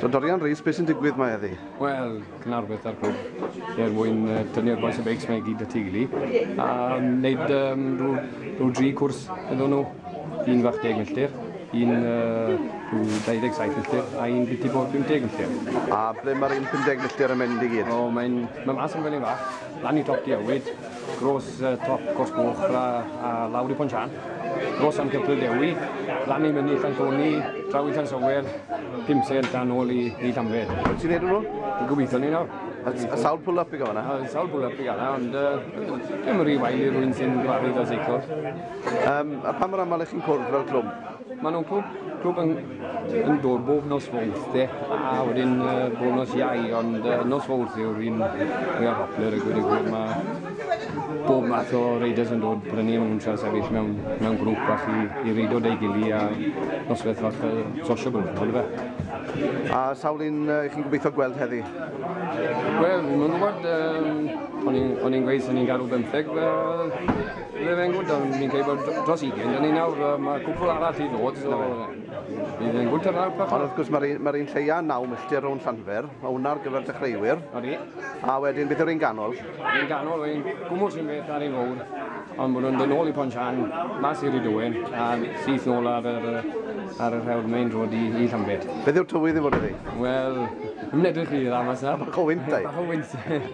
So Dorian Rees, beth sy'n digwydd mae eddi? Wel, cynnar beth ar cwb, er mwyn uh, tynnu'r boes y beics mae gyd y tiglu, a wneud um, rhyw, rhyw dri cwrs iddyn nhw, un fach deg milltir, un uh, 27 milltir a un biti bod 50 milltir. A ble mae'r un 50 milltir yn mynd i gyd? O, mae'n ma mas yn fel un fach. Lan i Top Dewyd, gros top Cwrs Goch a lawr i Pont Sian, gros am Cypryd Ddewi, lan i Mynydd Llantoni, draw i Llansower, pum sent a nôl i Llanfed. Wyt ti'n neud nhw? Dwi'n gobeithio ni nawr. A sawl pull-up i gael yna? A sawl pull-up i gael yna, ond uh, dim rhi wael i rwy'n sy'n gyfarwydd o seiclo. Um, a pa mor aml ych chi'n cwrdd fel clwm? Maen nhw'n clwb, clwb yn, yn dod bob nos fawrth, de, a wedyn uh, bob nos iau, ond uh, nos fawrth yw'r un mwyaf poplar y gwir y gwir. Mae bob math o reiders yn dod brynu am nhw'n sefyll mewn, mewn grŵp a chi i reidio deu gili a noswaith fach uh, sociable, ond fe. A sawl un uh, chi'n gobeithio gweld heddi? Wel, fi'n gwybod, um, o'n i'n gweithio, o'n i'n garw bymtheg, uh, Bydd e'n gwnt am ni'n cael bod dros ugen, da ni nawr, mae cwpl arall i ddod, so bydd e'n gwnt ar nawr. Ond wrth gwrs mae'r mae un lleia naw milltir rhwng Llanfer, mae hwnna ar gyfer dechreuwyr. Odi. A wedyn beth yw'r un ganol? Un ganol, ein gwmwl sy'n beth ar ein fawr, ond maen nhw'n dod nôl i Ponsian, mas i'r Idowen, a syth nôl ar yr, ar yr hewr main road i, i Llanbed. Beth yw'r tywydd i fod iddi? Wel, ddim yn edrych i dda mas na. Bach o wynt, dau. Bach o wynt.